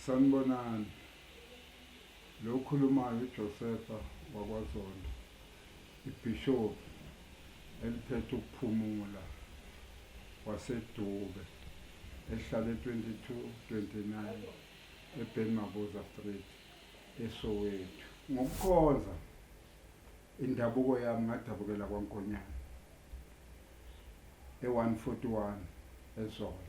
Sanibonani. Lo okhulumayo uJosefa wakwaZondo, ibhishobhi eliphethe ukuphumula waseDube elihlale 2229 eBen Mabuza Street eSoweto. Ngokukhonza indabuko yami ngadabukela kwaNkonyane e-141 eZola.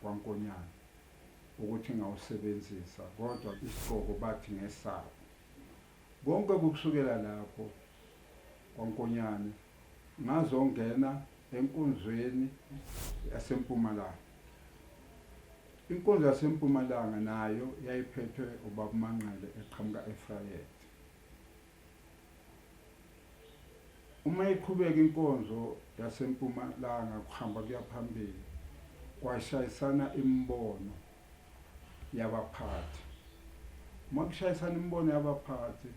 kwaNkonyane ukuthi ngawusebenzisa kodwa isigqoko bathi ngesabo. Konke kukusukela lapho kwaNkonyane ngazongena enkonzweni yaseMpumalanga. Inkonzo yaseMpumalanga nayo yayiphethwe uBabuManqele eqhamuka eVryheid. Uma iqhubeka inkonzo yaseMpumalanga kuhamba kuya phambili kwashayisana imibono yabaphathi. Uma kushayisana imibono yabaphathi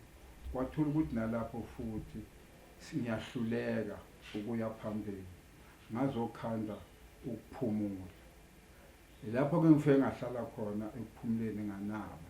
kwathola ukuthi nalapho futhi siyahluleka ukuya phambili ngazokhanda ukuphumula. Lapho-ke ngifike ngahlala khona ekuphumuleni nganaba.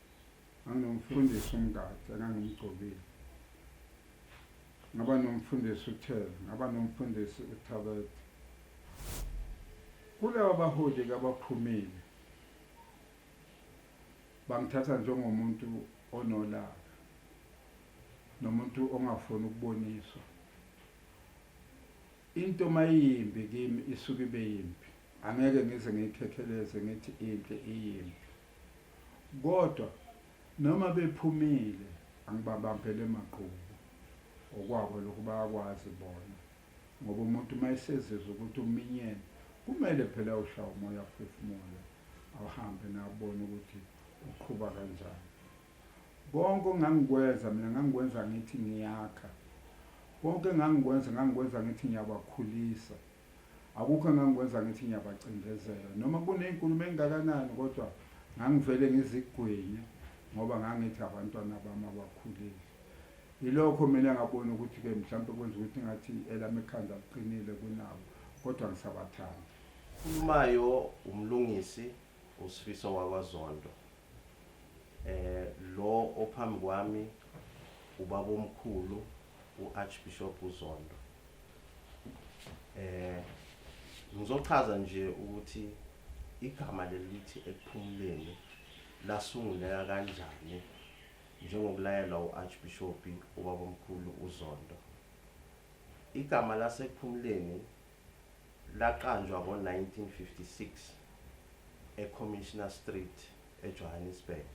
anginomfundisi umgadi engangimgcobile ngaba nomfundisi uthele ngaba nomfundisi uthabethe kulaba baholi kabaphumile bangithatha njengomuntu onolaka nomuntu ongafuni ukuboniswa into mayimbi kimi isuke ibe yimbi angeke ngize ngiyikhekheleze ngithi inhle iyimbi Kodwa noma bephumile angibabambele maqhubu okwabo lokhu bayakwazi bona ngoba umuntu uma esezizwa ukuthi uminyene kumele phela ushaye umoya aphefumule ahambe nabone ukuthi uqhuba kanjani konke ongangikwenza mina ngangikwenza ngithi ngiyakha konke engangikwenza ngangikwenza ngithi ngiyabakhulisa Akukho engangikwenza ngithi ngiyabacindezela noma kunezinkulumo engakanani kodwa ngangivele ngizigwinye ngoba ngangithi abantwana bami abakhulile. Yilokho mina ngabona ukuthi ke mhlawumbe kwenza ukuthi ngathi elami ikhanda liqinile kunabo kodwa ngisabathanda. Khulumayo umlungisi uSifiso wakwaZondo. Eh lo ophambi kwami ubaba omkhulu u-Archbishop uZondo eh ngizochaza nje ukuthi igama lelithi ekuphumuleni lasunguleka kanjani njengokulayelwa u-Archbishop ubaba omkhulu uZondo igama lasekuphumuleni laqanjwa ngo-1956 eCommissioner Street eJohannesburg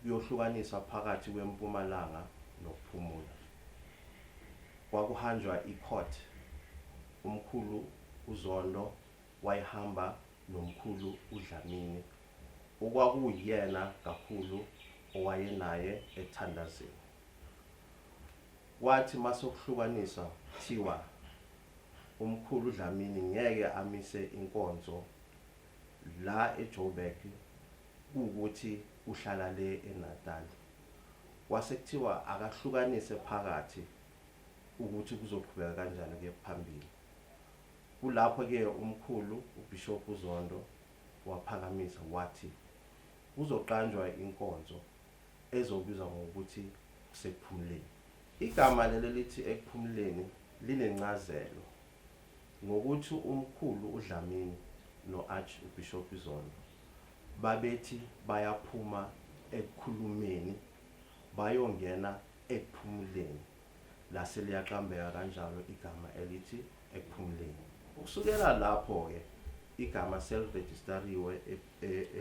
kuyohlukaniswa phakathi kwempumalanga nokuphumula. Kwakuhanjwa icourt umkhulu uZondo wayihamba nomkhulu uDlamini okwakuwuyena kakhulu owayenaye ekuthandazeni. Kwathi masokuhlukaniswa kuthiwa umkhulu uDlamini ngeke amise inkonzo la eJoburg kuwukuthi uhlala le eNatal. Kwase kuthiwa akahlukanise phakathi ukuthi kuzoqhubeka kanjani ukuya phambili. Kulapho ke umkhulu uBishop uZondo waphakamisa wathi kuzoqanjwa inkonzo ezobizwa ngokuthi kusekuphumuleni. Igama leli elithi ekuphumuleni linencazelo. Ngokuthi uMkhulu uDlamini no-Arch uBhishobhi Zondo babethi bayaphuma ekukhulumeni bayongena ekuphumuleni lase liyaqambeka kanjalo igama elithi ekuphumuleni. Ukusukela lapho-ke igama selirejistariwe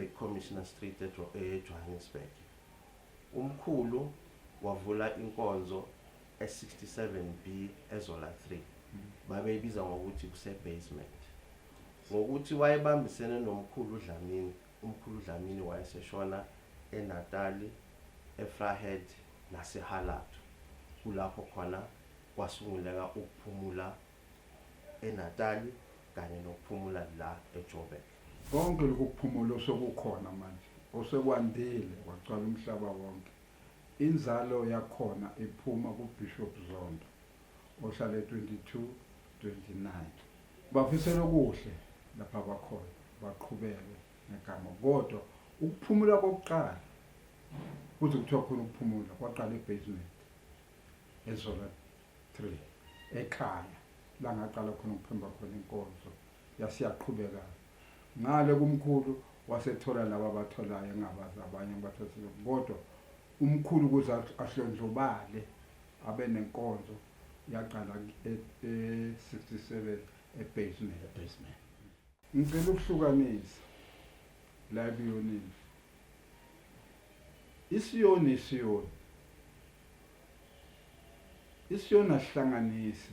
eCommissioner Street eJohannesburg. UMkhulu wavula inkonzo e67 B ezola 3 babeyibiza ngokuthi kuse basement ngokuthi wayebambisene nomkhulu uDlamini umkhulu uDlamini wayeseshona eNatali eFrahead naseHalatu kulapho khona kwasunguleka ukuphumula eNatali kanye nokuphumula la eJoburg konke lokhu kuphumula osekukhona manje osekwandile kwagcwala umhlaba wonke Inzalo yakhona iphuma kuBishop Zondo ohlale 2229. Bafisela okuhle lapha bakhona baqhubeke ngegama kodwa ukuphumula kokuqala kuze kuthiwa khona ukuphumula kwaqala ebasement ezola 3 ekhaya langaqala khona ukuphemba khona inkonzo yase yaqhubeka ngale kumkhulu wasethola laba abatholayo engabazi abanye abathosile kodwa umkhulu ukuze ahlondlobale abe nenkonzo yaqala e-67 e-, ebasement ebasement ngicela ukuhlukanisa la ebiyonini isiyoni isiyoni isiyoni asihlanganise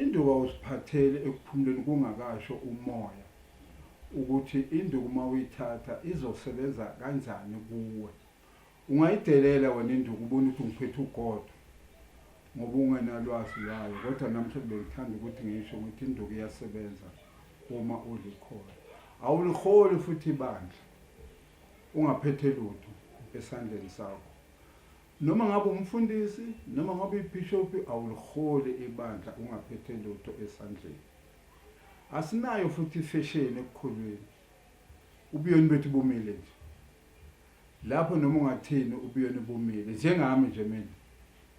Induku awusiphatheli ekuphumuleni kungakasho umoya ukuthi induku uma uyithatha izosebenza kanjani kuwe. Ungayidelela wena induku ubone ukuthi ngiphethe ugodo ngoba ungenalwazi lwayo kodwa namhlanje bengithanda ukuthi ngisho ukuthi induku iyasebenza uma ulikhona. Awuliholi futhi ibandla ungaphethe lutho esandleni sakho. Noma ngabe umfundisi noma ngabe ibhishophi awuliholi ibandla ungaphethe lutho esandleni. Asinayo futhi ifesheni ekukholweni. Ubuyoni bethu bumile nje. Lapho noma ungathini ubuyoni bumile njengami nje mina.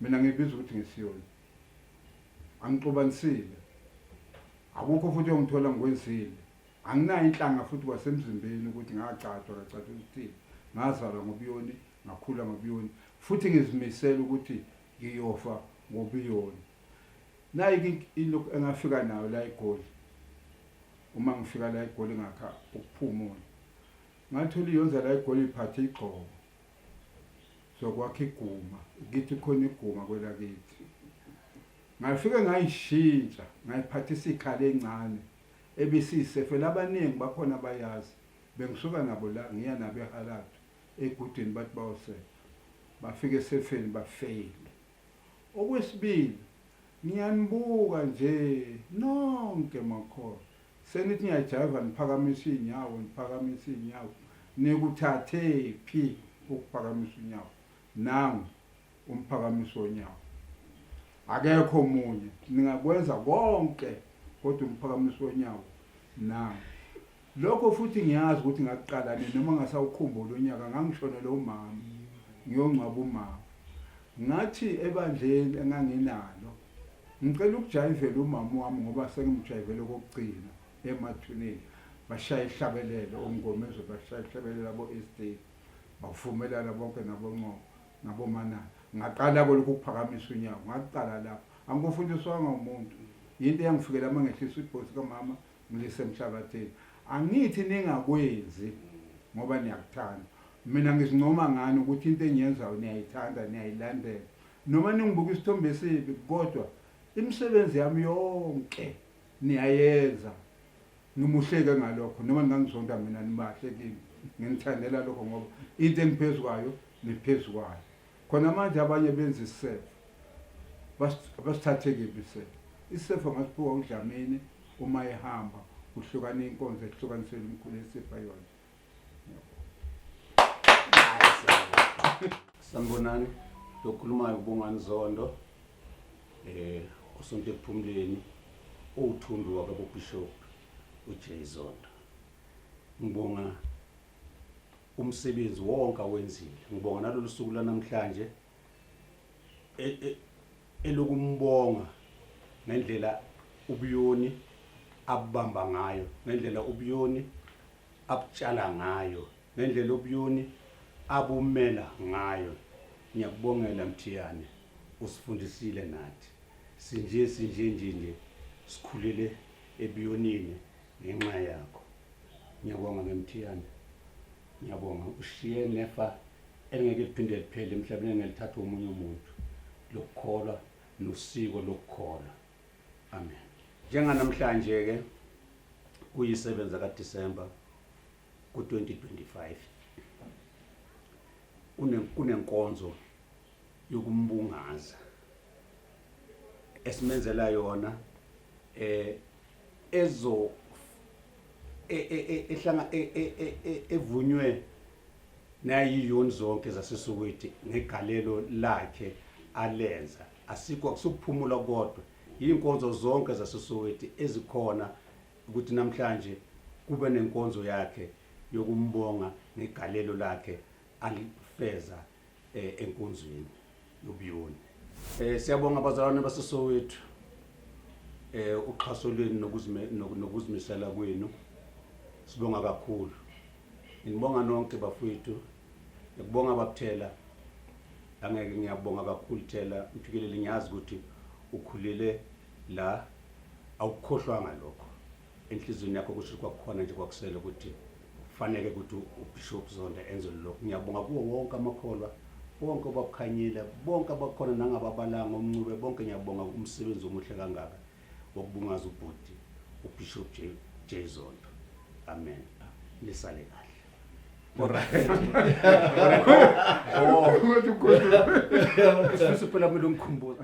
Mina ngibiza ukuthi ngisiyona. Angixobanisile. Akukho futhi ongithola ngikwenzile. Anginayo inhlanga futhi kwasemzimbeni ukuthi ngacatshwa kacatshwa ukuthi ngazalwa ngobuyoni ngakhula ngobiyoni futhi ngizimisela ukuthi ngiyofa ngobiyoni nayi into engafika nayo la egoli uma ngifika la egoli ngakha ukuphumula ngathola iyonza la egoli iphathe igxobo sokwakha iguma kithi khona iguma kwelakithi ngafike ngayishintsha ngayiphathisa ikhala encane ebisiyisefela abaningi bakhona bayazi bengisuka nabo la ngiya nabo ehalathu egudwini bathi bayosefa bafike esefeni bafeyile okwesibili ngiyanibuka nje nonke makhona senithi niyajaiva niphakamisa iy'nyawo niphakamisa iy'nyawo nikuthathe phi ukuphakamisa unyawo nangu umphakamiso wonyawo akekho munye ningakwenza konke kodwa umphakamiso wonyawo nangu Lokho futhi ngiyazi ukuthi ngakuqala nini noma ngasawukhumbula unyaka ngangishonela umama ngiyongcwaba umama. Ngathi ebandleni enganginalo ngicela ukujayivela umama wami ngoba sengimjayivele okokugcina emathuneni bashaya ihlabelelo omngomezwe bashaya ihlabelelo abo-estate bavumelana bonke naboncobo nabomanana ngaqala kolokhu ukuphakamisa unyawo ngaqala lapho angikufundiswanga umuntu yinto eyangifikela uma ngehlisa ibhosi kamama Mlise Mhlabathini, angithi ningakwenzi ngoba niyakuthanda. Mina ngizincoma ngani ukuthi into engiyenzayo niyayithanda, niyayilandela. Noma ningibuka isithombe esibi kodwa imisebenzi yami yonke niyayenza. Ngimuhleke ngalokho noma ningangizonda mina nibahle kimi. Nginithandela lokho ngoba into engiphezu kwayo niphezu kwayo. Khona manje abanye benza isisefo. Abasithathe kephi isisefo? Isisefo ngasiphiwa uDlamini uma ehamba kuhlukana inkonzo ehlukanisela umkhulu esipha yona. Sanibonani, lokhulumayo uBongani Zondo. Eh, usonto ekuphumuleni uwuthundu wakabobishop uJay Zondo. Ngibonga umsebenzi wonke awenzile ngibonga nalolu suku lanamhlanje e- e- elokumbonga ngendlela ubuyoni abubamba ngayo ngendlela ubuyoni abutshala ngayo ngendlela ubuyoni abumela ngayo ngiyakubongela mthiyane usifundisile nathi sinje sinje nje nje sikhulele ebuyonini ngenxa yakho ngiyabonga memthiyane ngiyabonga ushiye nefa elingeke liphinde liphele emhlabeni engelithatha omunye umuntu lokukholwa nosiko lokukholwa amen njenganamhlanje-ke kuyisebenza kadisemba ku-2025 kunenkonzo yokumbungaza esimenzela yona eh ezo e, e, e, ehlanga evunywe nayiyoni zonke zaseSoweto ngegalelo lakhe alenza asikho akusukuphumula kodwa yinkonzo zonke zaseSoweto ezikhona ukuthi namhlanje kube nenkonzo yakhe yokumbonga ngegalelo lakhe alifeza eh, enkonzweni yobuyoni eh siyabonga abazalwane basesowethu eh uxhaso lwenu nokuzime nok- nokuzimisela kwenu sibonga kakhulu ngibonga nonke bafowethu ngikubonga bakuthela angeke ngiyabonga kakhulu thela mfikeleli ngiyazi ukuthi ukhulele la awukukhohlwanga lokho enhliziyweni yakho kusho kwakukhona nje kwakusele ukuthi kufanele ukuthi ubishop zonda enze lokhu ngiyabonga kuwo wonke amakholwa bonke abakukhanyile bonke abakhona nangababalanga omncube bonke ngiyabonga umsebenzi omuhle kangaka wokubungaza ubhuti ubishop j j zonto amen lisale kahle Sifisa phela kumele ungikhumbuze